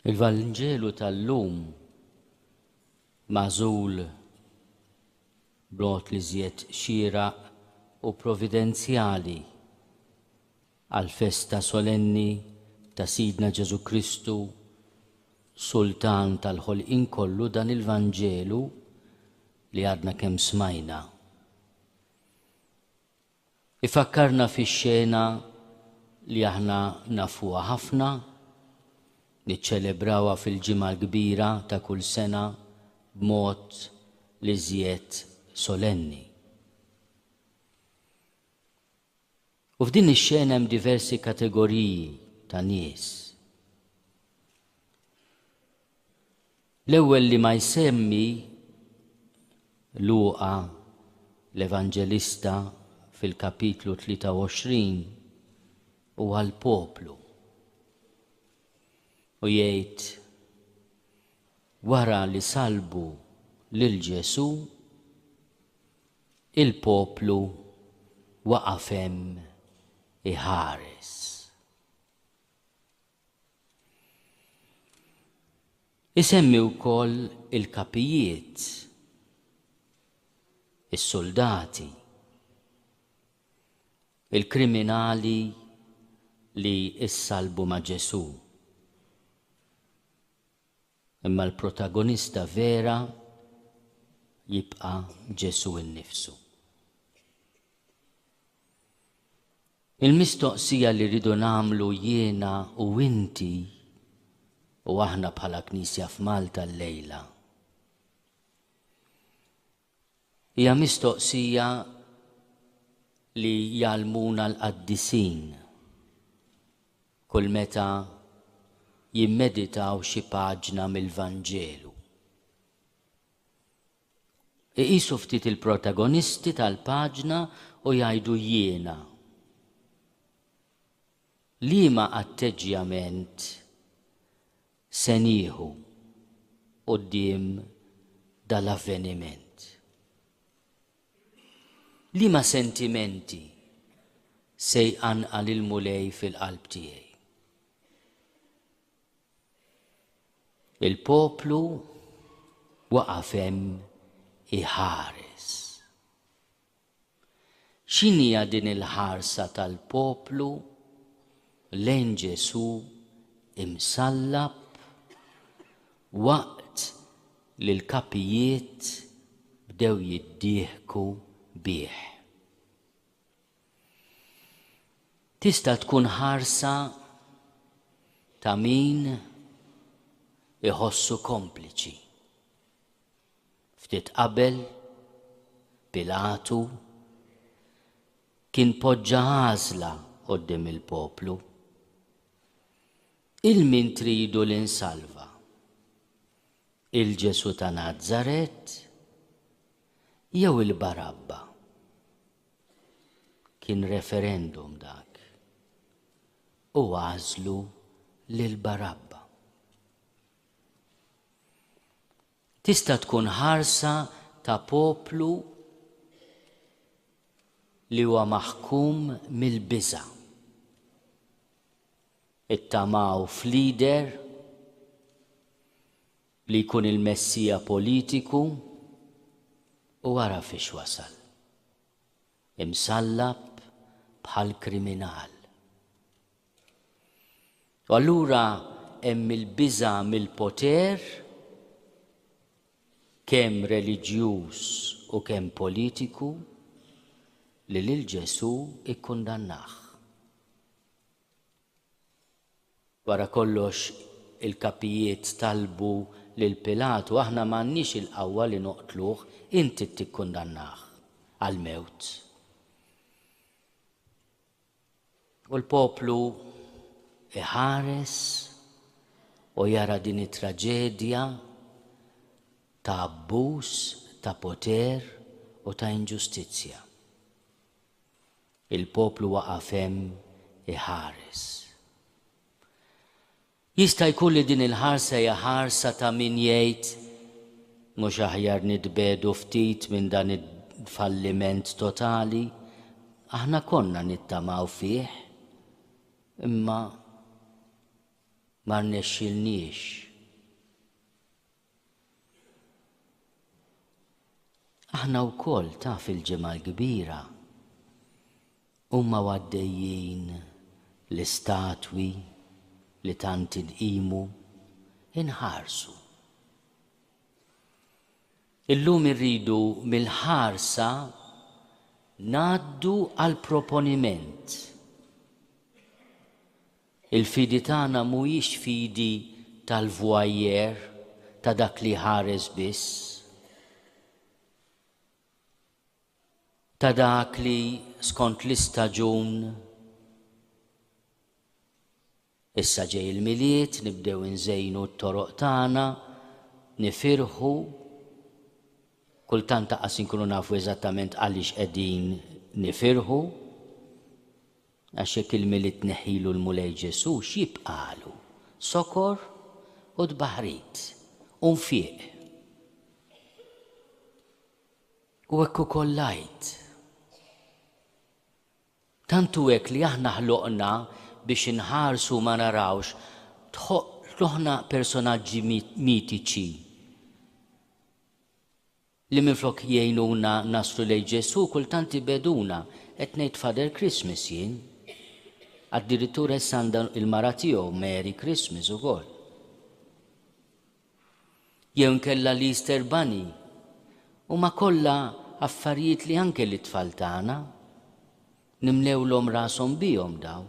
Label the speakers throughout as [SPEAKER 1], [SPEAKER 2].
[SPEAKER 1] Il-Vanġelu tal-lum magħżul b'mod l-iżjed xieraq u providenzjali għall-festa solenni ta' Sidna Ġesù Kristu, Sultan tal-ħolqien kollu, dan il-Vanġelu li għadna kemm smajna. Ifakkarna fi xena li aħna nafuha ħafna, niċċelebrawha fil-Ġimgħa l-Kbira ta' kull sena b'mod l-iżjed solenni. U f'din ix-xena hemm diversi kategoriji ta' nies. L-ewwel li ma jsemmi Luqa l-Evanġelista fil-Kapitlu 23 huwa l-poplu. U jgħid, Wara li sallbu lil Ġesù, il-poplu waqaf hemm iħares. Isemmi wkoll il-kapijiet, is-suldati, il-kriminali li issallbu ma' Ġesù. Imma l-protagonista vera jibqa' Ġesù innifsu. Il-mistoqsija li rridu nagħmlu jiena u inti u aħna bħala Knisja f'Malta llejla Hija mistoqsija li jgħallmuna l-qaddisin kull meta jimmeditaw xi paġna mill-Vanġelu. Iqisu ftit il-protagonisti tal-paġna u jgħidu jiena. Liema atteġġjament se nieħu quddiem dal-avveniment? Liema sentimenti se jqanqal il-Mulej fil-qalb tiegħi? Il-poplu waqaf hemm iħares. X'inhija din il-ħarsa tal-poplu lejn Ġesù imsallab waqt li l-kapijiet bdew jiddieħku bih? Tista' tkun ħarsa ta' min iħossu kompliċi. Ftit qabel, Pilatu kien poġġa għażla quddiem il-poplu, 'Il min tridu li nsalva? 'Il Ġesù ta' Nazaret jew 'il Barabba? Kien referendum dak, u għażlu lil Barabba. Tista' tkun ħarsa ta' poplu li huwa maħkum mill-biża'. Ittamaw f'leader li jkun il-messija politiku u ara fiex wasal. Imsallab bħal kriminal. U allura hemm il-biża' mill-poter, kemm reliġjuż u kemm politiku, li lil Ġesù kkundannah. Wara kollox, il-kapijiet talbu lil Pilatu, Aħna m'għandniex il-qawwa li noqtluh, inti tikkundannah għall-mewt. U l-poplu iħares u jara din it-traġedja ta' abbuż ta' poter u ta' inġustizzja. Il-poplu waqaf hemm iħares. Jista' jkun li din il-ħarsa hija ħarsa ta' min jgħid, Mhux aħjar nitbiegħdu ftit minn dan il-falliment totali? Aħna konna nittamaw fih, imma ma rnexxielniex. Aħna wkoll ta' fil-Ġimgħa l-Kbira huma u għaddejjin l-istatwi li tant inqimu inħarsu. Illum irridu mill-ħarsa ngħaddu għall-proponiment. Il-fidi tagħna mhijiex fidi tal-vwajjer, ta' dak li jħares biss, ta' dak li, skont l-istaġun, Issa ġej il-Milied, nibdew inżejnu t-toroq tagħna, nifirħu, kultant anqas inkunu nafu eżattament għaliex qegħdin nifirħu. Għax jekk il-Milied tneħħilu l-Mulej Ġesù, x'jibqagħlu? Sokor u tbaħħrit u nfiq. U hekk ukoll l-Għid. Tant hu hekk li aħna ħloqna biex inħarsu u ma narawx, ħloqna personaġġi mitiċi. li minflok jgħinuna naslu lejn Ġesù kultant ibegħduna, qed ngħid Father Christmas jien. Addirittura issa għandha l-mara tiegħu Merry Christmas ukoll. Jew inkella l-Easter Bunny. Huma kollha affarijiet li anke lit-tfal tagħna nimlewlhom rashom bihom dawn.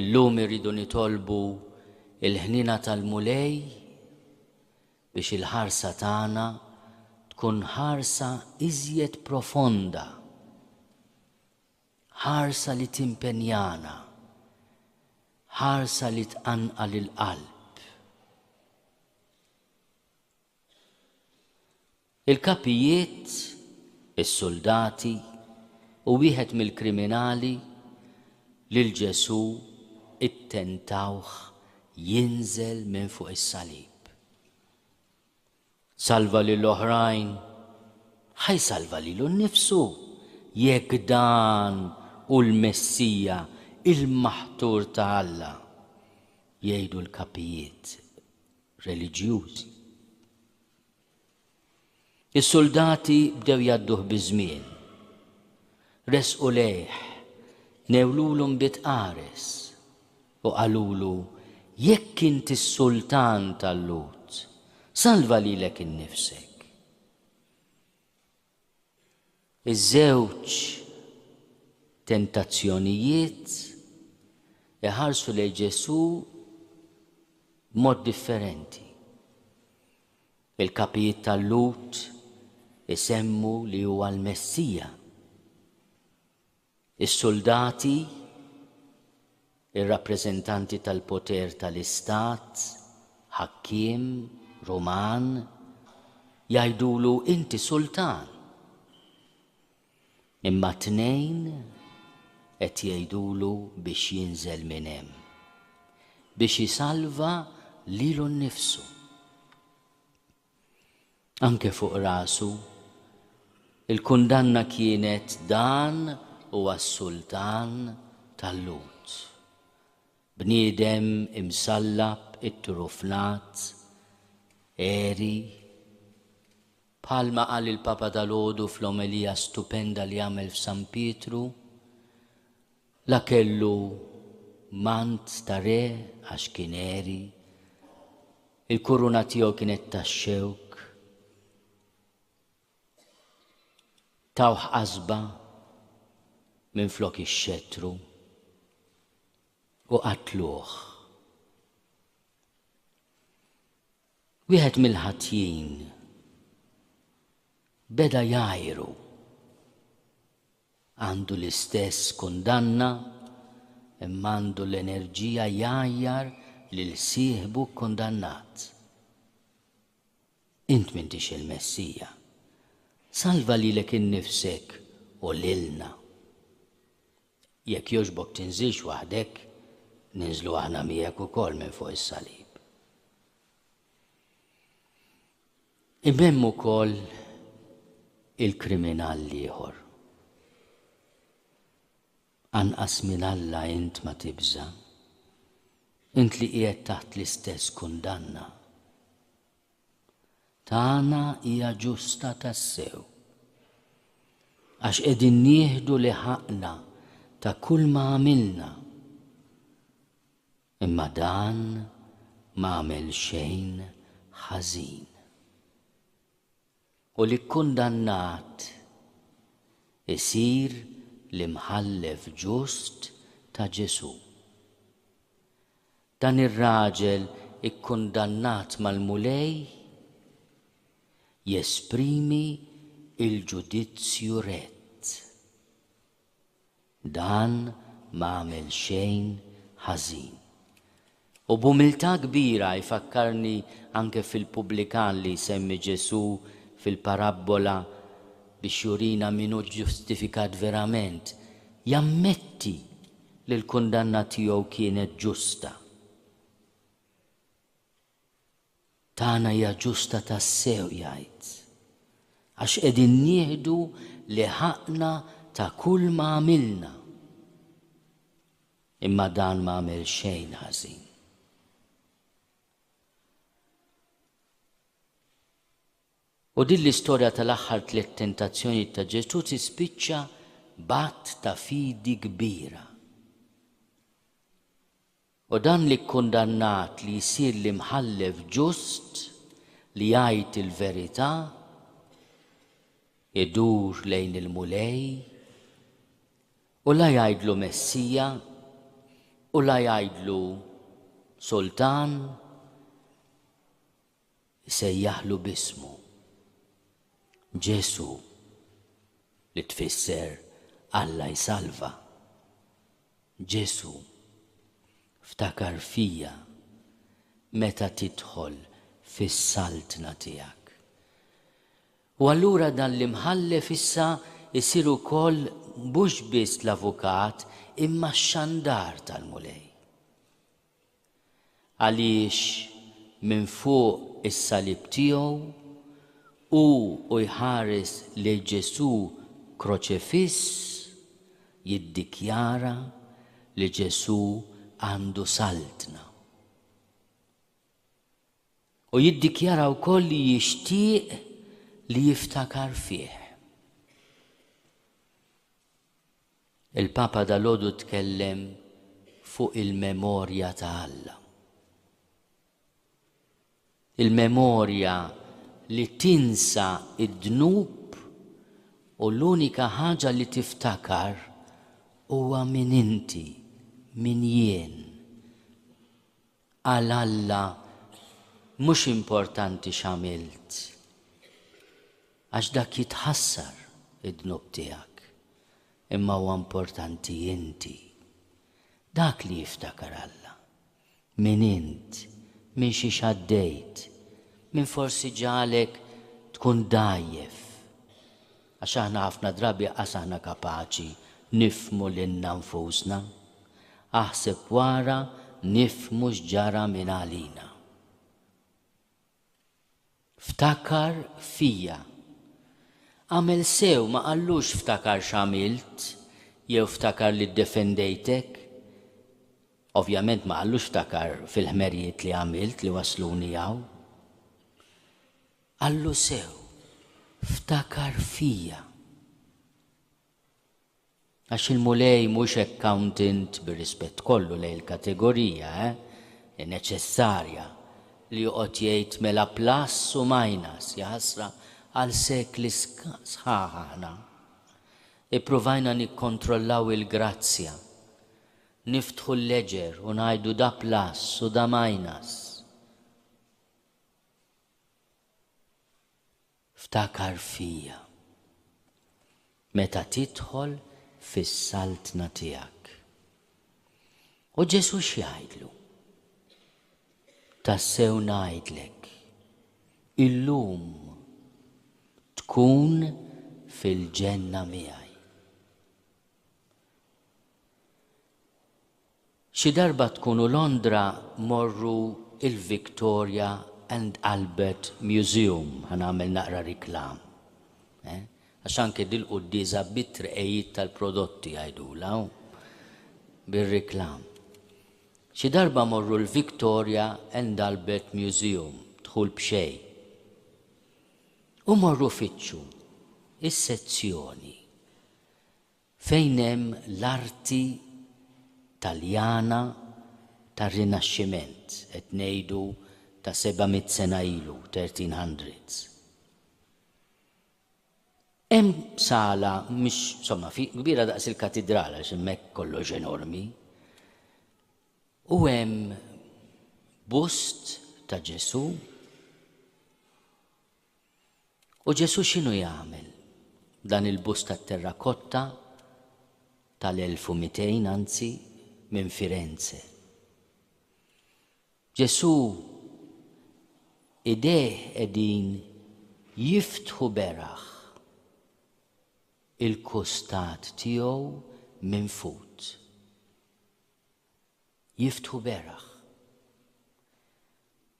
[SPEAKER 1] Illum irridu nitolbu l-ħniena tal-Mulej biex il-ħarsa tagħna tkun ħarsa iżjed profonda, ħarsa li timpenjana, ħarsa li tqanqal il-qalb. Il-kapijiet, is-suldati, u wieħed mill-kriminali, lil Ġesù ttentawh jinżel minn fuq is-salib. Salva lil oħrajn, ħa jsalva lilu nnifsu jekk dan hu l-Messija, il-Maħtur ta' Alla, jgħidu l-kapijiet reliġjużi. Is-suldati bdew jgħadduh biż-żmien. Resqu lejh, newlulu nbid qares, u qalulu, Jekk int is-sultan tal-Lhud, salva lilek innifsek. Iż-żewġ tentazzjonijiet iħarsu lejn Ġesù b'mod differenti. Il-kapijiet tal-Lhud isemmu li huwa l-Messija. Is-suldati, ir-rappreżentanti tal-poter tal-istat, ħakkiem, ruman, jgħidulu inti sultan. Imma t-tnejn qed jgħidulu biex jinżel minn hemm. Biex isalva lilu nnifsu. Anke fuq rasu. Il-kundanna kienet dan huwa s-sultan tal-Lhud. Bniedem imsallab itturufnat, għeri. Bħalma qal il-Papa dalgħodu fl-omelija stupenda li għamel f'San Pietru, La kellu mant ta' re għax kien għeri, il-kuruna tiegħu kienet tax-xewk, tawh qasba minflok ix-xettru u qatluh. Wieħed mill-ħatjin beda jgħajru Għandu l-istess kundanna, imma għandu l-enerġija jgħajjar lil sieħbu kkundannat, Int m'intix il-Messija. Salva lilek innifsek u lilna. Jekk jogħġbok tinżilx waħdek, ninżlu aħna miegħek ukoll minn fuq is-salib. Imma hemm ukoll il-kriminal l-ieħor. Anqas minn Alla int ma tibża'? Int li qiegħed taħt l-istess kundanna. Tagħna hija ġusta tassew. Għax qegħdin nieħdu li ħaqqna ta' kulma għamilna. Imma dan m'għamel xejn ħażin. U l-ikkundannat isir l-imħallef ġust ta' Ġesù. Dan ir-raġel ikkundannat mal-Mulej jesprimi l-ġudizzju rett. Dan m'għamel xejn ħażin. U b'umiltà kbira jfakkarni anke fil-pubblikan li jsemmi Ġesù fil-parabbola biex jurina min hu ġġustifikat verament, jammetti li l-kundanna tiegħu kienet ġusta. tagħna hija ġusta tassew jgħid, għax qegħdin nieħdu li ħaqqna ta' kulma għamilna. Imma dan ma għamel xejn ħażin. U din l-istorja tal-aħħar tliet tentazzjonijiet ta' Ġesù tispiċċa b'att ta' fidi kbira. U dan li kkundannat li jsir l-imħallef ġust li jgħid il-verità, idur lejn il-Mulej, u la jgħidlu Messija, u la jgħidlu Sultan, Isejjaħlu b'ismu. Ġesù, li tfisser Alla jsalva. Ġesù, ftakar fija meta tidħol fis-Saltna tiegħek. U allura dan l-Imħallef issa jsir ukoll mhux biss l-avukat imma x-xandar tal-Mulej. Għaliex minn fuq is-salib tiegħu, hu u jħares lil Ġesù kroċefiss, jiddikjara li Ġesù għandu Saltna. U jiddikjara wkoll li jixtieq li jiftakar fih. Il-Papa dalgħodu tkellem fuq il-memorja ta' Alla. Il-memorja li tinsa id-dnub u l-unika ħaġa li tiftakar huwa min inti, min jien. Għal Alla mhux importanti x'għamilt, għax dak jitħassar, id-dnub tiegħek, imma huwa importanti inti. Dak li jiftakar Alla, min int, minn xiex għaddejt, min forsi ġagħlek tkun dgħajjef, Għax aħna ħafna drabi qas aħna kapaċi nifhmu lilna nfusna. Aħseb wara nifhmu x'ġara mingħalina. Ftakar fija. Agħmel sew ma qallux ftakar x'għamilt jew ftakar li ddefendejtek. Ovvjament ma qallux ftakar fil-ħmerijiet li għamilt li wassluni hawn. Allu sew, ftakar fija. Għax il-Mulej mhux accountant, bir-rispett kollu lejn il-kategorija, eh, neċessarja, li joqgħod jgħid mela plus u minus, jaħasra għal sekli sħaħ aħna ippruvajna nikkontrollaw il-grazzja, niftħu l-ledger u ngħidu da plus u da minus. Ftakar fija. Meta tidħol fis-Saltna tiegħek. U Ġesù x'jgħidlu? Tassew ngħidlek, illum tkun fil-Ġenna miegħi. Xi darba tkunu Londra morru il-Victoria and Albert Museum, ħa nagħmel naqra riklam, eh? Għax anke dil-quddiesa bit-trqegħid tal-prodotti jgħidulha hu. Bir-riklam. Xi darba morru l-Victoria and Albert Museum, dħul b'xejn. U morru fittxu is-sezzjoni. fejn hemm l-arti Taljana tar-Rinaxximent, qed ngħidu ta' seba' mitt sena ilu, thirteen hundreds. Hemm sala mhix, somma, kbira daqs il-katidral għax hemmhekk kollox enormi, u hemm bust ta' Ġesù, U Ġesù x'inhu jagħmel? Dan il-bust tat-terrakotta tal-1200, anzi, minn Firenze. Ġesù idejh qegħdin jiftħu beraħ il-kustat tiegħu minn fut. jiftħu beraħ.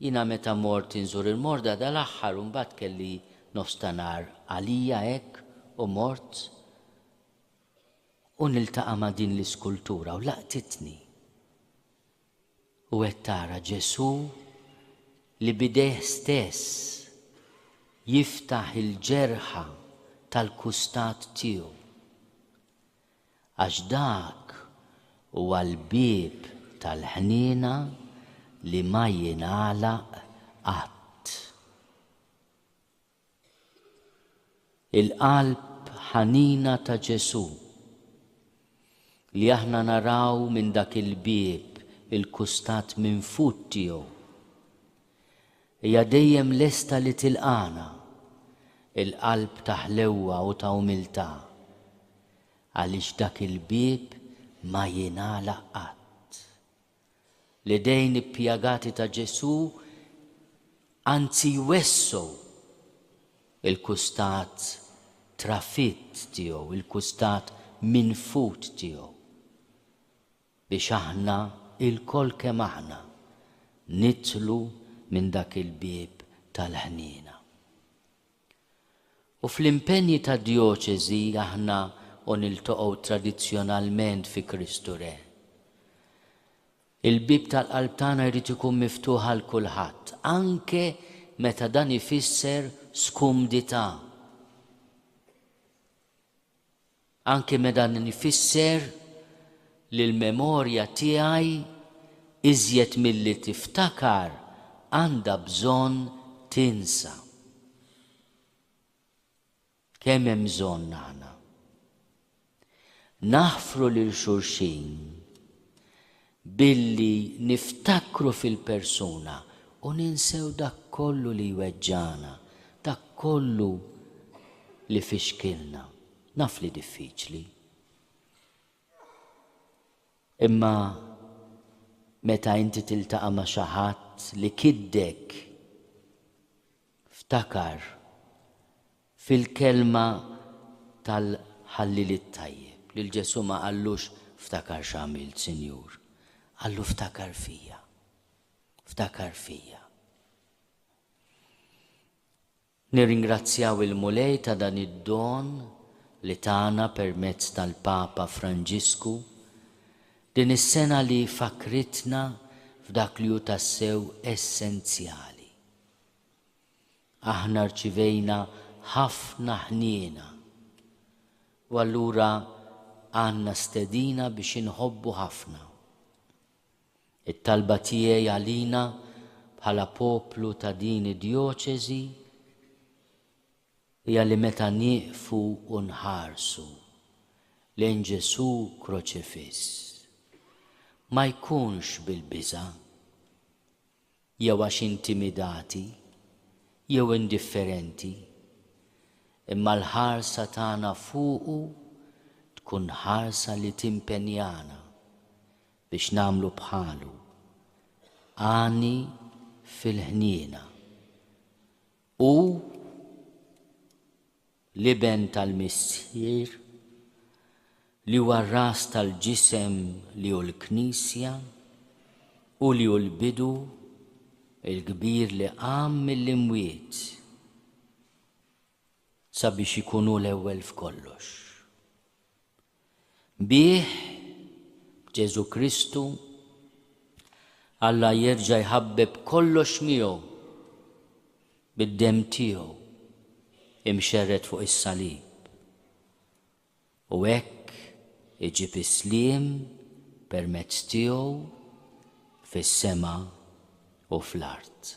[SPEAKER 1] Jiena meta mort inżur il-morda dal-aħħar u mbagħad kelli nofs ta' nhar għalija hekk u mort u niltaqa' ma' din l-iskultura u laqtitni. U qed tara Ġesù li b'idejh stess jiftaħ il-ġerħa tal-kustat tiegħu. Għax dak huwa l-bieb tal-ħniena li ma jingħalaq qatt. Il-qalb ħanina ta' Ġesù, li aħna naraw minn dak il-bieb il-kustat minfud tiegħu, Hija dejjem lesta li tilqagħna. Il-qalb ta' ħlewwa u ta' umiltà. Għaliex dak il-bieb ma jingħalaq qatt. L-idejn ippjagati ta' Ġesù anzi jwessgħu l-kustat trafitt tiegħu, il-kustat minfud tiegħu. biex aħna ilkoll kemm aħna nidħlu minn dak il-bieb tal-ħniena. U fl-impenji ta' djoċesi aħna u niltaqgħu tradizzjonalment fi Kristu Re. Il-bieb tal-qalb tagħna jrid ikun miftuħ għal kulħadd, anke meta dan ifisser skumdità. Anke me dan ifisser li l-memorja tiegħi iżjed milli tiftakar għandha bżonn tinsa. Kemm hemm bżonn aħna naħfru lil xulxin Billi niftakru fil-persuna u ninsew dak kollu li jweġġagħna, dak kollu li fixkilna. Naf li diffiċli. Imma meta inti tiltaqa' ma' xi ħadd li kiddek, ftakar Fil-kelma tal-Ħalliel it-Tajjeb, lil Ġesù ma qallux ftakar x'għamilt, Sinjur. Qallu ftakar fija. Ftakar fija. Nirringrazzjaw il-Mulej ta' dan id-don li tana permezz tal-Papa Franġisku din is-sena li fakkritna f'dak li hu tassew essenzjali. Aħna rċivejna ħafna ħniena u allura għandna stedina biex inħobbu ħafna. It-talba tiegħi għalina bħala poplu ta' din id-djoċesi hija li meta nieqfu u nħarsu lejn Ġesù kroċifiss, ma jkunx bil-biża', jew għax intimidati jew indifferenti, imma l-ħarsa tagħna fuqu tkun ħarsa li timpenjana biex nagħmlu bħalu, għani fil-ħniena u l-iben tal-Missier, li huwa r-ras tal-ġisem li hu l-Knisja, hu li hu l-bidu, il-kbir li qam mill-imwiet, sabiex ikun hu l-ewwel f'kollox. Bih, b'Ġesù Kristu, Alla jerġa' jħabbeb kollox miegħu bid-demm tiegħu imxerred fuq is-salib, u hekk iġib is-sliem permezz tiegħu fis-sema u fl-art.